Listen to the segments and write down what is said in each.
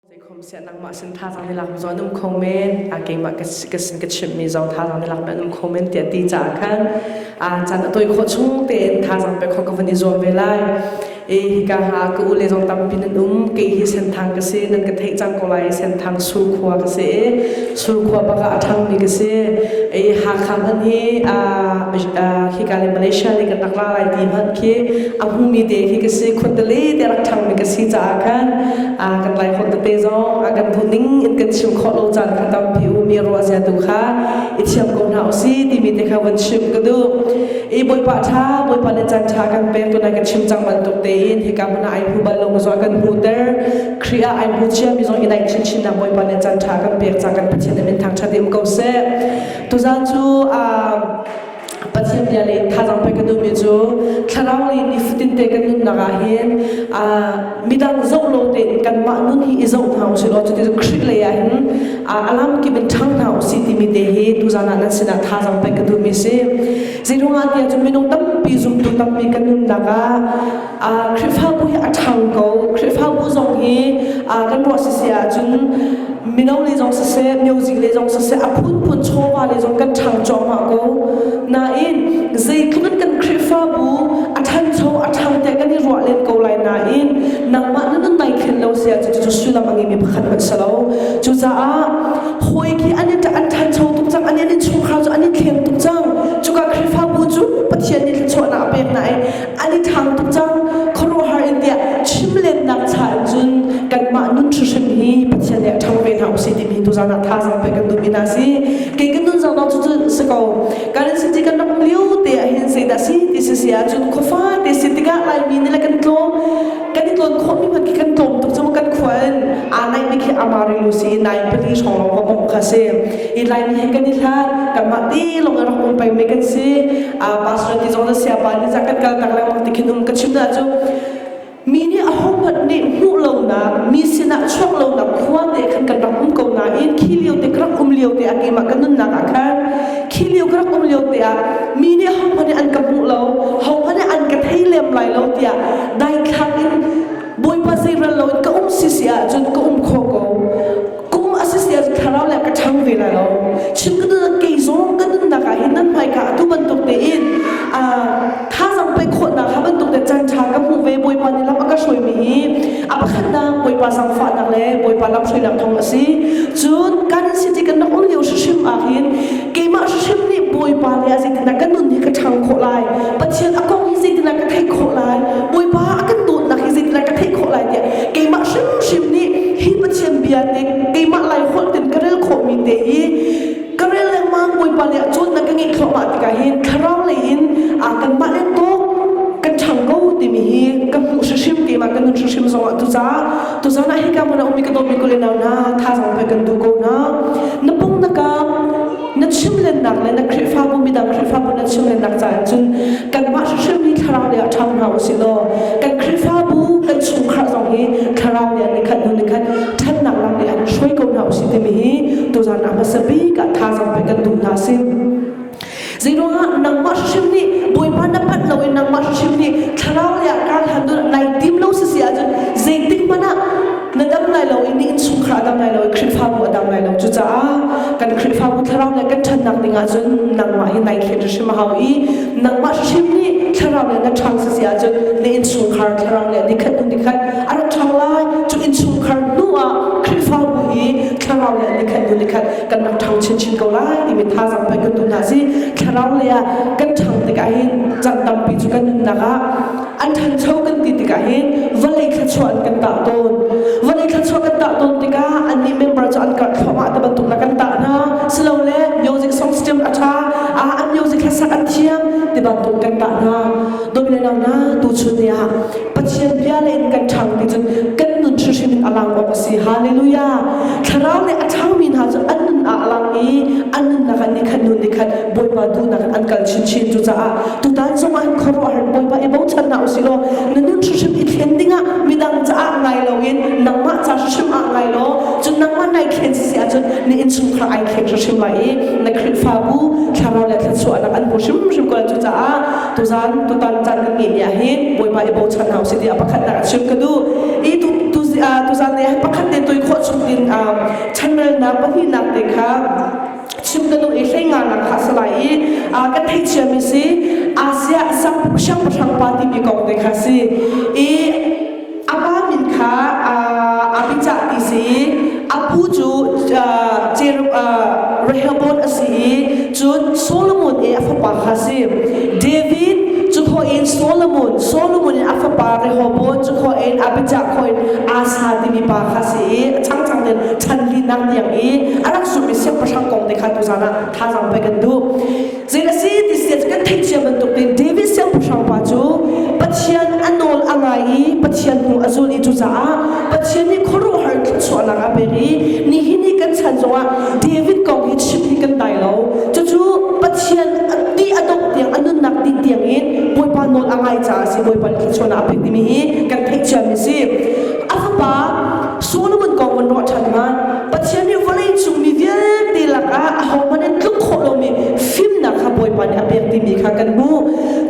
Zeikhom siah nangmah sin thazang i lak mi zong an um kho men, a keimah ka sin ka chimh mi zong thazang i lak mi an um kho men tiah ti caah khan caan a tawi khawh chung tein thazang pek kho ka van i zuam ve lai. I hika ha ka u le zong tampi nan um, kei hi senthang ka si, nan ka theih cang ko lai, senthang sul khua ka si i Surkhua bak ah a ṭhangmi ka si. I Hakha hmanh hi khika le Malaysia le kan rak ra lai ti hmanh khi a hmumi te khi ka si. Khuntali te rak ṭhangmi ka si caah khan kan Laikhawng tete zong kan buning in kan chim khawh lo caan kan tampi ummi ruah zia tu kha i thiam ko hna usih timi te kha van chim ka duh. I Bawipa ṭha, Bawipa le caan ṭha kan pek tunai kan chim cang bantuk tein hika hmun ah ai hu bal lo ka zuah kan hmuter. Kri ah ai bu cia mi zong i naih chinchin nak Bawipa nih can tha kan pek ca kan Pathian nih thang that em ko seh. Tuzan cu Pathian bia le thazang pe ka dumi cu thlarau li ni futin te kan nun nak ah hin midang zoh lo te kan mah nun hi i zoh hna usi lo cuti Kri le ah hin alam kim in thang hna usi ti mi te hi tuzan ah nan sinah thazang pe ka dumi si. Zirung an tia cu minung tampi zumtu tampi kan nun nak ah Khrihfabu hi a ṭhang ko. Khrihfabu zong hi kan ruah siseh ahcun mino le zong siseh, music le zong siseh, a phunphun chawva le zong kan ṭhang cuahmah ko. Nain, zeitluk kan Khrihfabu a ṭhancho, a ṭhang tiah kan i ruah len ko lai nain nangmah na nun nai thlen lo si ahcun cucu sullam a ngeimi pakhat hmanh si lo. Cucaah hawi khi an i ṭhancho tuk cang, an i chungkhar cu an i thleng tuk cang. Cuka Khrihfabu cu Pathian nih thluachuahnak a pek hna i an i ṭhang tuk cang. Khuaruahhar in tiah chimlennak cha in cun kanmah nun hrihrem hi Pathian nih a ṭhang ve hna usih timi tuzan ah thazaang pek kan duhmi hna si. Kei kan nun zong cu cu si ko. Kan city kan ram lio te ahhin zeidah si ti si si ahcun khuafate si tikah Laimi nih le kan tlawm kan i tlawn khawhmi hmanh khi kan tlawm tuk cun kan khua in aa naihmi khi amari lu si i nai pali hrawng lawng ka bawmh kha si i laimi hi kan i hlat kanmah ti lawng in rak um pengmi kan si pastor ti zong le siapa nih cah kan kaltak lengmang ti khin um ka chim hna cu mi nih ahohmanh nih hmuh lonak mi sinah chuak lonak khua te khan kan rak um ko nain khi lio te ka rak um lio te ah keimah ka nunnak ah khan khi lio ka rak um lio te ah mi nih hohmanh nih an ka hmuh lo hohmanh nih an ka thei lem lai lo tiah daithlang in bawipa zeiral lo in ka um si si ahcun ka um kho ko kum a si si ahcun thlarau le ka ṭhang ve lai lo chim ka nun kei zong ka nunnak ah hin nan hmaika atu bantuk tein thazang pei khawhnak ha bantuk te caan ṭha ka hmuh ve bawipa nih lam a ka hruaimi hi a pakhatnak bawipa zangfahnak le bawipa lam hruainak thawng a si cun kan siti kan rak um lio hrimhrim ah hin keimah hrimhrim nih bawipa nih a zeitindah ka nun hi ka ṭhang khawh lai Pathian a kong hi zeitindah ka theih khawh lai Bawipa a kan dawtnak hi zeitindah ka theih khawh lai tiah keimah hrimhrim nih hi Pathian bia nih keimah lai holh in ka rel khawhmi te hi ka rel lengmang Bawipa le cawtnak ka ngeih thluahmah tikah hin thlarau lei in aa kanmah le tawk kan ṭhang ko timi hi ka hmuh hrimhrim keimah ka nun hrimhrim zongah tucah tuzan ah hika hmun a ummi ka dawtmi kule nau hna thazang pe kan du ko hna na pung nakah na chimlennak le na Khrihfabu midang Khrihfabu na chimlennak caah cun kanmah hrimhrim hi thlarau lei ah ṭhang hna u sih law kan Khrihfabu kan chungkhar zong hi thlarau lei ah nikhat hnu nikhat ṭhatnak lam lei ah hruai ko hna u sih timi hi tuzan ah hmasa bik ah thazang pe kan duh hna si zeiruangah nangmah hrimhrim nih bawipa na pat lo in nangmah hrimhrim nih thlarau lei ah kaa hlan dun nai tim lo si si ahcun zeitik hmanh ah na dam lai lo i na innchungkhar a dam lai lo i Khrihfabu a dam lai lo cucaah kan Khrihfabu thlarau le kan ṭhatnak dingah cun nangmah hi nai thlet hrim a hau i nangmah hrim nih thlarau le na ṭhang si ahcun na innchungkhar thlarau le nikhat hnu nikhat a rat ṭhang lai cu innchungkhar hnuah Khrihfabu i thlarau le nikhat hnu nikhat kan rak ṭhang chinchin ko lai timi thazang pek kan tu hna si thlarau le ah kan ṭhang tikah hin caan tampi cu kan nunnak ah an ṭhancho kan ti tikah hin vawlei thluachuah an kan tah tawn vawlei thluachuah kan tah tawn tikah annih member cu an karh thluahmah ti bantuk na kan tah hna silole music songs tiang a ṭha an music hlasak an thiam ti bantuk kan tah hna dawt le nau na tuchun ni ah Pathian bia le in kan ṭhang ti cun kan nun hrimhrim in a lang awk a si hallelujah thlarau le a ṭhangmi hna cu an nun ah a lang i an nunnak an ni khan nun ni khan Bawipa duhnak an kal chinchin cu caah tutan zong ah khuaruahhar Bawipa i bochan hna usi law na nun hrim i thlen ding ah midang caah ngai lo in nangmah ca hrim ah ngai law cun nangmah nai thlen sisi ahcun na innchungkhar ai thleng hrim lai i na Khrihfabu thlarau le thluachuahnak an hmu hrimhrim ko cu caah tuzan tutan caan kan ngeih ni ah hi Bawipa i bochan hna usi tiah pakhatnak a chim ka duh i tu tuzan ni ah pakhat ne toih khawh chung in chanrelnak pahnihnak te kha chim ka duh i hleingan nak kha si lai i kan thei ciami si asia siangpahrang pa timi kong te kha si i a pa min kha abijah ti si i a pu cu Rehoboth a si i cun Solomon i a fapa kha si David cu kho in Solomon Solomon in a fapa Rehoboth cu kho in Abijah kho in Asa timi pa kha i a changchang in chanlinak niang i a rak sumi siangpahrang kong te kha tuzan ah thazaang pek kan duh zei a si ti si kan theih cia bantuk in David siangpahrang pa cu Pathian a nawl a ngai i Pathian hnu a zul i cucaah Pathian nih khuaruahhar thluachuahnak a pek i nihin ni kan chan zongah David kong hi chim hi kan dai lo cucu Pathian ti a dok tiang a nunnak ti tiang in Bawipa nawl a ngai caah si Bawipa khichuan a pek timi hi kan theih ciami si a fapa Solomon kong kan ruah ṭhan hnga Pathian nih vawleicung mi vialte lakah ahohmanh in tluk khawh lomi fimnak kha Bawipa nih a pek timi kha kan hmuh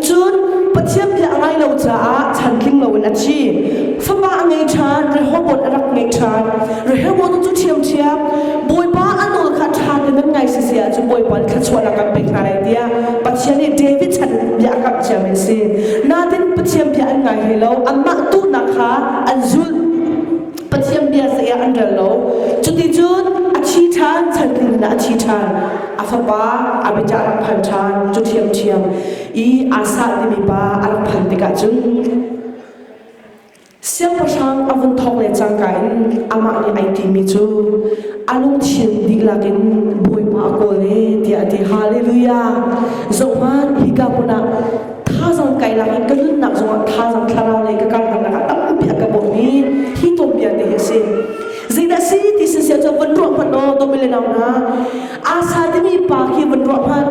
cun Pathian bia a ngai lo caah chantling loin a thi fapa a ngei ṭhan Rehoboth a rak ngei ṭhan Rehoboth cu ṭhiamṭhiam Bawipa a nawl kha ṭha tein an ngai sisi ahcun Bawipa nih thluachuah lam an pek hna lai tiah Pathian nih David chan bia a kamh ciami a si natin Pathian bia an ngai hlei lo anmah tuhnak kha an zulh Pathian bia saya an rel lo cuti cun a thi ṭhan chan tlin a thi ṭhan a fapa a biacah rak phal ṭhan cu ṭhiamṭhiam i asa timi pa a rak phal tikah cun Siangpahrang a vun thawk le cangka in amah nih ai timi cu a lungthin dihlak in Bawipa a kawl e tiah a ti. Hallelujah! Zohman, hika hmun ah thazang kailak in ka nunnak zongah thazang thlarau lei ka kalnak lakah tampi a ka bawmh i hi tuanbia te hi a si. Zeidah si ti si siah cu vun ruah hmanh law, Domilena hna, Asa timi pa khi vun ruah hmanh.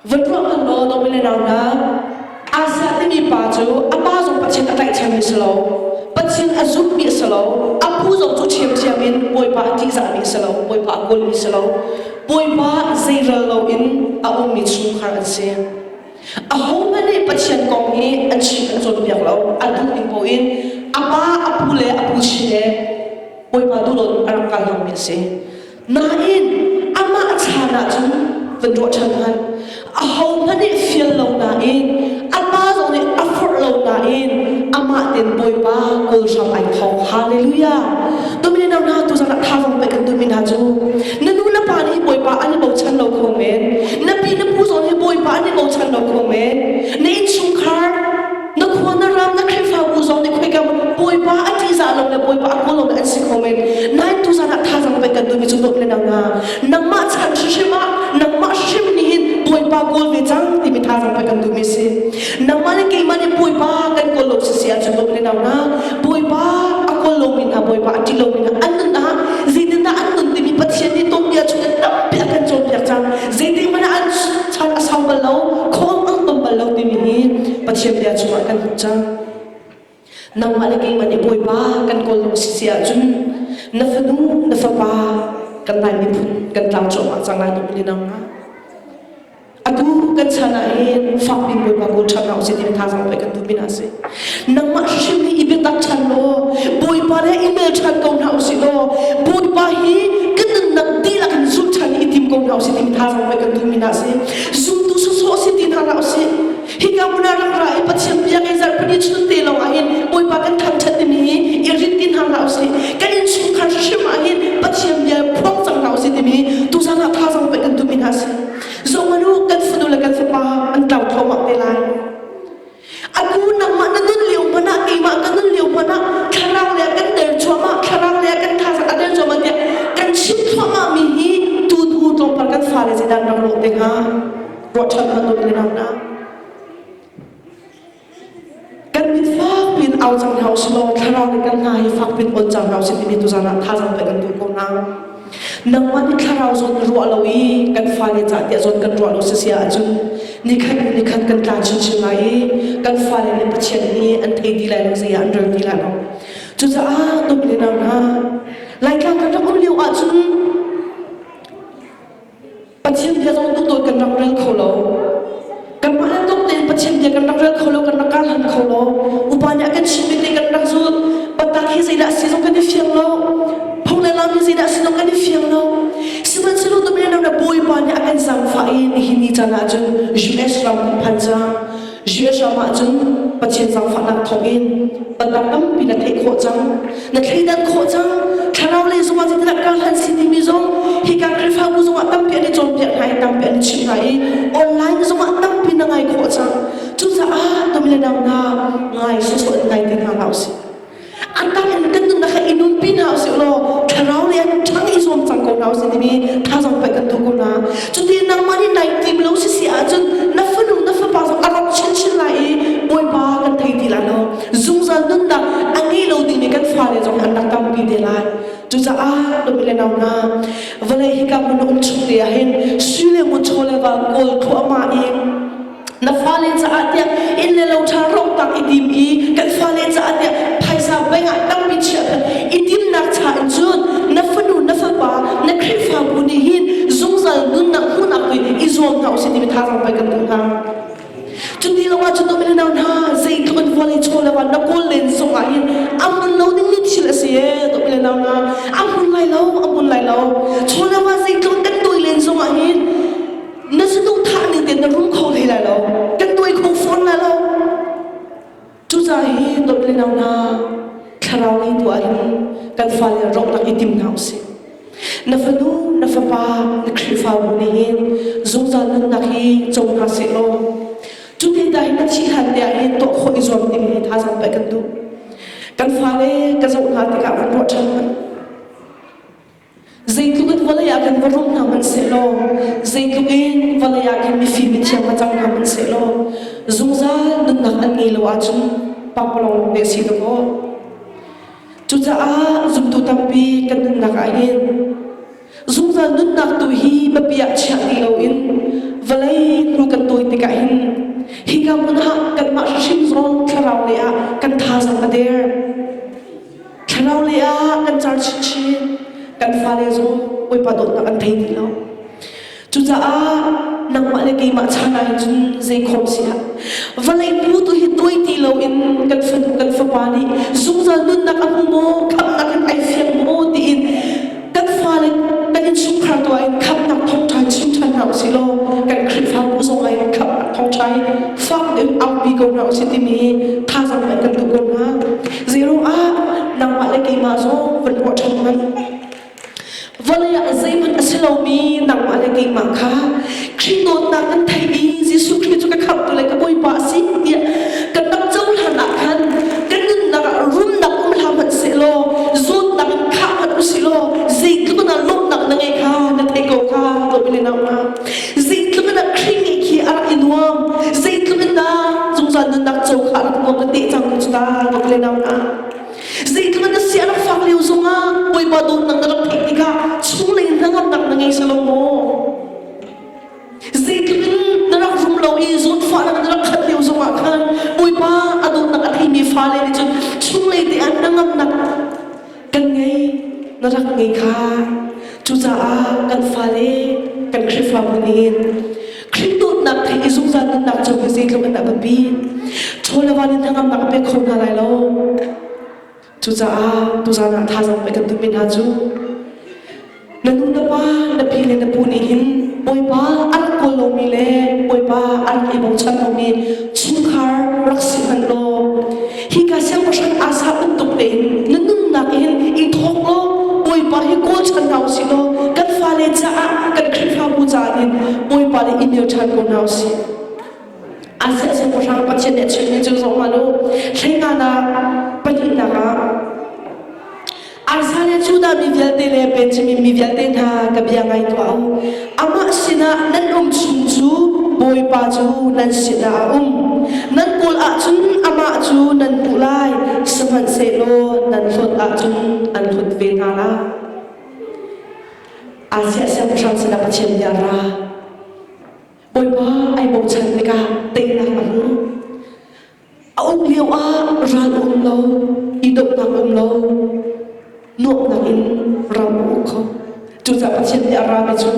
Vutruang Nundaw nung le nau Asia timi pa cu ama zong Pathin a tlaihchem mi si lo. Pathin a zumh mi si lo. A phu zong cu thiamthiam in Bawipa a ttihzah mi si lo. Bawipa a kawl mi si lo. Bawipa zei rel lo in a um mi chungkhar an si. A ho hmanh nih Pathian kong hi an chim an cawnpiak lo. A duh ning poh in a pa, a pu le a pu chin he Bawipa duhdawt a rak kal hlang mi a si. Nain amah chan ahcun van ruah ṭhan hmanh. Ahohmanh nih fial lo nain apa zong nih a forh lo nain amah ten Bawipa kawl hram ai tho. Hallelujah. Tumi na na tu zarah tha zong pek kan tumi na cu. Na nu na pa nih Bawipa an i bochan lo kho men. Na pi na pu zong hi Bawipa an i bochan lo kho men. Na innchungkhar na khua na ram na khrihfabu zong nih khoika bawipa a ṭihzah lo le bawipa a kawl lo an si kho men nain tu zan ah thazang pe kan dui mi cu dawt le nang nga nangmah chan hrim ah nangmah hrim nih hin bawipa kawl ve cang timi thazang pe kan dui mi si nangmah le keimah nih bawipa kan kawl lo si si ahcun dawt le nang nga bawipa a kawl lo min hna bawipa a ṭih lo min hna an nun ah zeitindah an nun timi pathian nih tuanbia chung in tampi a kan cawnpiak cang zeitik mana an chak a sau bal lo khawm ngangam bal lo timi hi pathian bia cungah kan hmuh cang nangmah le keimah nih bawipa kan kawl lo si si ahcun na fanu na fapa kan lai miphun kan tlang cuahmah cang lai dum ni nang atu kan chan ah hin fakpi bawipa kawl ṭhan hna usih ti tha zong pei kan duh pin ah si nangmah hrim i biatak ṭhan law bawipa le i bel ṭhan ko hna u sih law bawipa hi ka nunnak dihlak in zulh ṭhan i tim ko hna u sih tim hna law kan duhmi na si zumtu sawsawh si ti hna hlah u sih hika hmuna ram ra i pathian biakinn zarhpini chun te lawngah hin bawipa kan thangṭhat dimi i rin ti hna hlah u sih kan innchungkhar hrim ah hin pathian bia phuang cang hna u sih timi tu zan ah tha zong pek kan duhmi hna si zongman u kan fanu le kan fapa an tlau thawmah te lai A nu nangmah na nun lio hmanh ah keimah ka nun lio hmanh ah thlarau le kan der cuahmah thlarau le kan thazaang a der cuahmah tiah kan chim thluahmah mi hi tu hnu tlawmpal kan fale zedan rak rawh te hnga ruahchan hman dawt le nang na kan mit fak pin au cang hau si law thlarau le kan hna hi fak pin ol cang hau si timi tu zan ah thazaang pe kan duh ko na nangmah nih thlarau zawn na ruah lo i kan fale cahtiah zawn kan ruah lo si si ahcun nikhat in nikhat kan tla chinchin lai i kan fale le pathian nih an thei ti lai lo zei ah an rel ti lai lo cucaah tuk le nang ha laitlang kan rak um lio ahcun Pathian bia zong hnatlawt kan rak rel kho lo. Kanmah le tuk tein Pathian bia kan rak rel kho lo, kan rak kaa hlan kho lo. Upa nih a kan chimh mi te kan rak zut. Batak hi zeidah si zong kan i fiang lo. Phung le lam hi zeidah si zong kan i fiang lo. Sihmanhsehlaw tumen na bawipa nih a kan zaangfah i nihin ni caan ah cun US ram kan phan cang. Juasham ahcun Pathian zangfahnak thawngin tannak tampi na theih khawh cang. Na thleidan khawh cang. Thlarau lei zongah zeitindah ka hlan si timi zong hi kan Khrihfabu zongah tampi an i cawnpiak hna i tampi an i chimh hna i online zongah tampi na ngai khawh cang. Cucaah tum le nang hna ngai sawsawh in ngai te hna hlah usih. an kan in kan nunnak kha i nunpi hna usih law thlarau lei an ṭhang i zuam cang ko hna usih timi thazaang pek kan duh ko hna cuti nangmah nih nai tim lo si si ahcun na fanu na fapa zong a rak chinchin lai i bawipa kan thei ti lai lo zungzal nunnak a ngei lo dingmi kan fale zong an rak tampi te lai cucaah nu le nau na vawlei hika hmun um chung te ah hin sile mu chaw le va kawl khu ama in na fale caah tiah inn le lo ṭha rongtang i dim i kan fale caah tiah phaisa bengah tampi chiah i dimnak cha in cun na fanu na fapa na khrihfabu nih hin zungzal nunnak hmuhnak tu i zuam hna usih timi thazaang pei kan duh hna cu ti lawngah cu tuk na hna zeitluk in vawlei chaw le na kawl len zongah hin a mun lo ding ni thil a si e tuk le na hna a mun lai lo a mun lai lo chaw le zeitluk kan tui len zongah hin na saduh thah ning tein na rum kho hlei lai lo kan tuai kho fawn lai lo cucaah hi dawt le nau hna thlarau lei tu ah hin kan fale rawknak i tim hna usih na fanu na fapa na khrihfabu nih hin zungzal nunnak hi cong hna seh law cu te ta hin na thih hlan te ah hin tuah khawh i zuam ding hi thazang pek kan duh kan fale ka zoh hna tikah kan ruah ṭhan Zeitluk in vawlei ah kan va rawh hna hmanh sehlaw, zeitluk in vawlei ah khin mifim mithiang va cang hna hmanh sehlaw, zungzal nunnak an ngei lo ahcun Panglong pek si tuk u. Cucaah zumtu tampi kan nunnak ah hin zungzal nunnak tu hi biapi ah chiah ti loin vawlei hnu kan tawi tikah hin hika hmun ah kanmah hrimhrim thlarau lei ah kan tha zong a der. Thlarau lei ah kan car chinchin. Kan fale zong bawipa dawtnak an thei ti lo. Cucaah nangmah le keimah chan ah cun zeikhom si ah vawlei pu tu hi tuai ti lo in kan fanu kan fapa nih zungzal nunnak a hmu maw khamnak in ai fiang maw tiin kan fale kan innchungkhar tu ah khamnak thawngṭha chinchin hna usih law kan khrihfabu zong ah in khamnak thawngṭha hi fak in aupi ko hna usih timi thazang in kan duh ko hna zeiro ah nangmah le keimah zong van ruah ṭhan hmanh vawlei ah zeihmanh a si lomi nangmah le keimah kha Khrih dawtnak kan theimi Jesuh Khrih cu ka khamhtu le ka bawipa a si tiah kan tam cohlan ah khan kan nunnak ah rumnak um hlah hmanh sehlaw zawtnak in khah hmanh u silaw zeitluk na lawmhnak na ngei kha na thei ko kha Lord le nau hna zeitluk in Khrih nih khi a rak i nuam zeitluk in dah zungzal nunnak co kha a rak nuam na teh cang cu ta Lord le nau hna zeitluk in na sia rak fak lio zongah bawipa dawtnak na rak theih tikah chunglei hnangamnak na ngei salo maw Zeitluk na rak rum lo i zawtfah na rak khat lio zongah khan Bawipa a dawtnak a theimi fale nih cun chunglei te ah na ngamnak kan ngei na rak ngei kha cucaah kan fale kan Khrihfabu nih Khrih dawtnak he i zungzal nunnak cung hi zeitluk in a biapi chaw le van in hnangamnak a pek kho hna lai lo Cucaah tuzan ah thazang mei kan tummi hna cu na nu na pa na pi le na pu nih hin bawipa an kual lomi le bawipa an i bochan lomi chungkhar rak si hmanh law hika siangpahrang asa um tuk tein na nunnak hin i thawk law bawipa hi kawl chan hna usih law kan fale caah kan khrihfabu caah hin bawipa nih i mil ṭhan ko hna usih An hngalh siangpahrang Pathian nih a chimmi cu zoh hmanh u. Hleinganak pahnihnak ah Arsa le Judah mi vialte le Benjamin mi vialte hna ka bia ngai tuah u. Amah sinah nan um chung cu Bawipa cu nan sinah a um. Nan kulh ahcun amah cu nan puh lai, sihmanhsehlaw nan hlawt ahcun an hlawt ve hna lai. Asia siangpahrang sinah Pathian bia ra. Bawipa ai bochan tikah teinak a hmu. A um lio ah ral um lo, idohnak um lo, nuamhnak in ram a uk kho. Cucaah Pathian nih a rami cu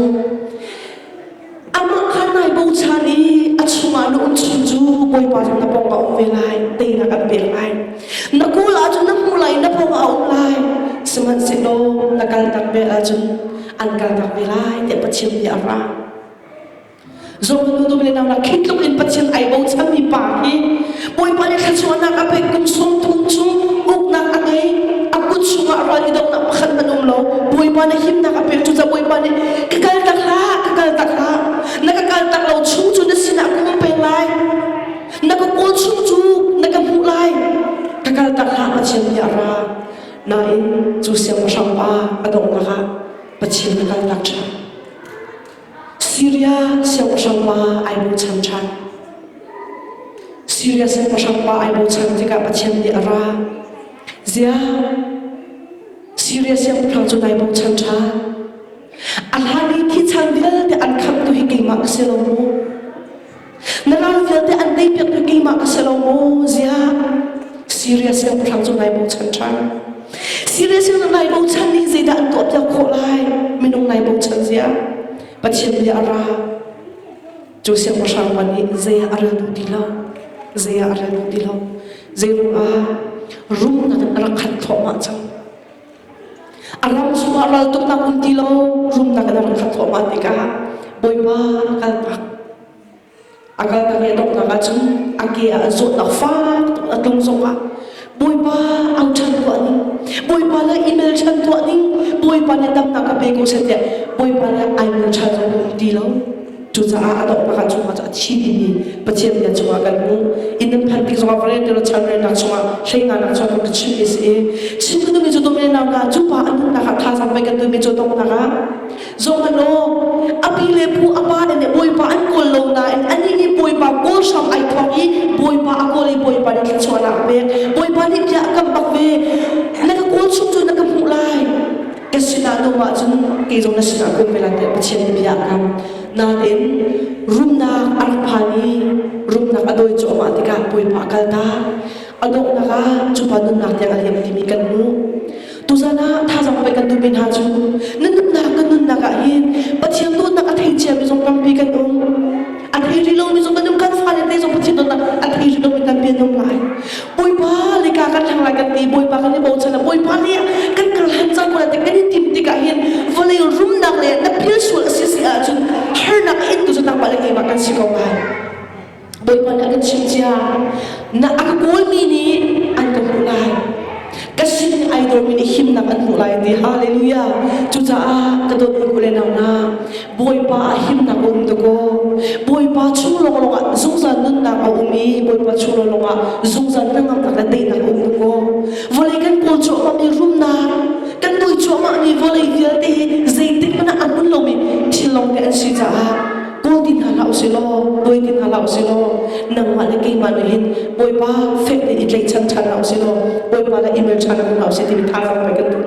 amah kha nai bochan i a chungah na um chung cu Bawipa cu na pawng a um ve lai, teinak an pek lai. Na kul ah cun na hmu lai, na pawng a um lai. Sihmanhsehlaw na kaltak vel ahcun an kaltak ve lai, tiah Pathian nih a ra. Zawttu nu le nau la khi tluk in Pathian ai bochanmi pa hi Bawipa nih thluachuahnak a pek kum sawm thum cu uknak a ngei a kut chungah ral i donghnak pakhat hmanh um lo Bawipa nih himnak a pek cu ca Bawipa nih ka kal tak hlah ka kal tak hlah na ka kal tak lo chung cu na sinah ka um peng lai na ka kawl chung cu na ka hmuh lai ka kal tak hlah Pathian bia ra nain cu siangpahrang pa a donghnak ah Pathian na kal tak ṭhan Syria siangpahrang pa ai bochan ṭhan. Syria siangpahrang pa ai bochan tikah Pathian nih a ra. Ziah! Syria siangpahrang cu nai bochan ṭhan. A hlan i thi chan vialte an khamtu hi keimah ka si lo maw? Mirang vialte an teipiaktu keimah ka si lo maw ziah? Syria siangpahrang cu ngai bochan ṭhan. Syria siangpahrang ngai bochan nih zeidah an tuahpiak khawh lai? Minung ngai bochan zia. Pathian bia a ra. Cu siangpahrang pa nih zeiah a rel duh ti lo. Zeiah a rel duh ti lo. Zei ruangah? Rumnak in a rak khat thluahmah cang. A ram chungah raltuk nak um ti lo rumnak in a rak thawng ah tikah Bawipa a kalnak a kalnak i a donghnak ah cun a ke ah a zawtnak faak a tlung zongah Bawipa au ṭhan tuah ning Bawipa le i mel ṭhan tuah ning Bawipa nih tamnak a pe ko sen tiah Bawipa le ai mel ṭhan lo um ti lo Cucaah a dawh pakhat chungah cu a thi timi Pathian bian chungah kan hmuh. Inn nan phanpi zongah va relter chan relnak chungah hleihnanak chuah kan ka chimh i si i Chin ka duhmi cu domennak ka cu pa an hmuhnak ah thazaang pei kan duhmi cu donghnak ah zong hmanh law a pi le pu a pa in le bawipa an kawl lo nain anih nih bawipa kawl hram ai thawk i bawipa a kawl i bawipa nih thluachuah na a pek bawipa nih bia a kan bak ve na ka kawl chung cu na ka hmuh lai Ka sinah lawm ahcun kei zong na sinah um ve lai tiah Pathian nih bia a kam. Nain rumnak a rak phan i rumnak a dawi cuahmah tikah puilpa a kaltak. A donghnak ah cupa nunnak tiang a liam timi kan hmuh. Tuzan ah thazang pei kan duhmi hna cu nan nunnak kan nunnak ah hin Pathian dawtnak a thei ciami zong tampi kan um. an thei rih lomi zong kan um kan fale te zong pathin don an thei rih lomi kan pian um lai bawipa le ka kan thang lai kan ti bawipa kan i bochan bawipa le kan kal han cang kula te kan i tim tikah hin vawlei rumnak le na phil sual si si ahcun harnak in tu zatang pale keimah kan si ko lai bawipa nih a kan chim cia na a ka kawlmi nih an ka hmuh lai ka sin idol mi nih himnak an hmuh lai ti hallelujah cucaah ka dawt in kule nau na Bawipa ah himnak a um dakaw. Bawipa chung lawnglawng ah zungzal nunnak a um i Bawipa chung lawnglawng ah zungzal kan ngamnak le teinak a um dakaw. Vawlei kan pawl cuahmah i rumnak kan toi cuahmah ni vawlei vialte zeitik mana an un lomi thil long te an si caah kawl ti hna la usih law boi ti hna la usih law nangmah le keimah nih hin Bawipa fek ni i tleichan ṭhan la usih law Bawipa le imel ṭhan la usih timi thalang mai kan duh.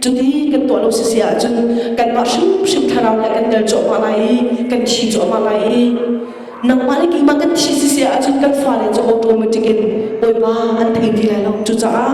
Cuti kan tuah lo sisi ahcun kanmah hrimhrim thlarau nih kan tel cuahmah lai i kan thi cuahmah lai i nangmah le keimah kan thi sisi ahcun kan fale cu automatic in Bawipa an thei ti lai lo. Cucaah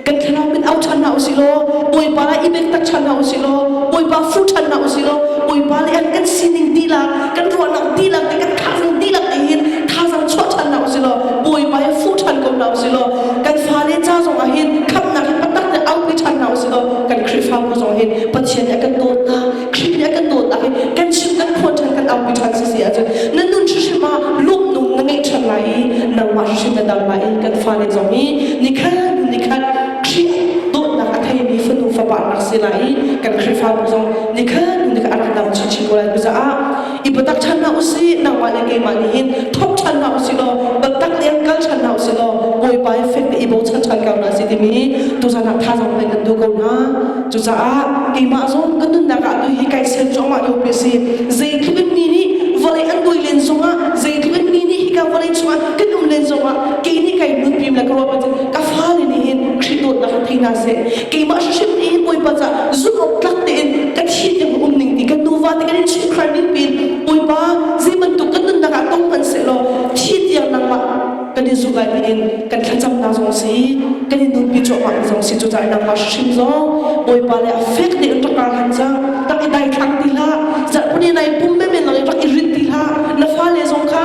kan thlarau min au ṭhan hna u sih law Bawipa i bektak ṭhan hna u sih law Bawipa fu ṭhan hna u sih law Bawipa le an kan sining dihlak kan ruahnak dihlak le kan thazaang dihlak nih hin thazaang chuah ṭhan hna u sih law buaibai fu ṭhan ko hna usih law kan fale ca zongah hin khamhnak hi patak le aupi ṭhan hna usih law kan Khrihfabu zong hin Pathian nih a kan dawtnak Khrih nih a kan dawtnak hi kan chim kan phuan ṭhan kan aupi ṭhan si si ahcun na nun hrimhrim ah lawmhnung na ngeih ṭhan lai i nangmah hrimhrim na dam lai i kan fale zong hi nikhat nikhat Khrih dawtnak a theimi fanu fapa an rak si lai i kan Khrihfabu zong nikhat nikhat an rak dam chinchin ko lai caah i biatak ṭhan hna usih nangmah le keimah nih hin thawk ṭhan hna usih law biatak le in kal ṭhan hna usih law Bawipa i fek te i bochan ṭhan ko hna sih timi tuchan ah thazaang pe kan duh ko hna cucaah keimah zong kan nunnak ah tu hi kai sen cuahmah ko pi si zeitluk in ni nih vawlei an buai len zongah zeitluk in ni nih hika vawlei chungah kan um len zongah kei nih kai nun pim le ka ruah cun ka fale nih hin Khrih dawtnak ah thei hna seh keimah hrimhrim nih Bawipa ca zumh awk tlak tein ka thi ding um ning ti kan nuva kan chimh khual ning pin Bawipa zei bantuk kan nunnak ah tong hman se law thi tiang nangmah kan i zuh lai tiin kan thlacamnak zong si kan i nunpi cuahmah zong si cu cah nangmah hrim zong Bawipa le a fek ne in rak han za rak i dai thlang ti la zarh puni nai pum me men lang i rak i rit ti la na fa le zong kha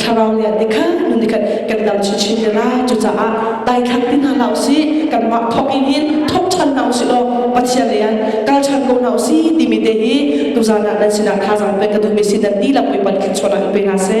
thlarau lian te kha nun khat kan dam chu chin te la cucaah dai thang ti hna la usih kanmah thok in hin thok chan na usih law pathian rian kal chan ko na usi timi te hi tu zana nan sinah kha zan pe ka duhmi si dan ti la pui pan khin chona pe na se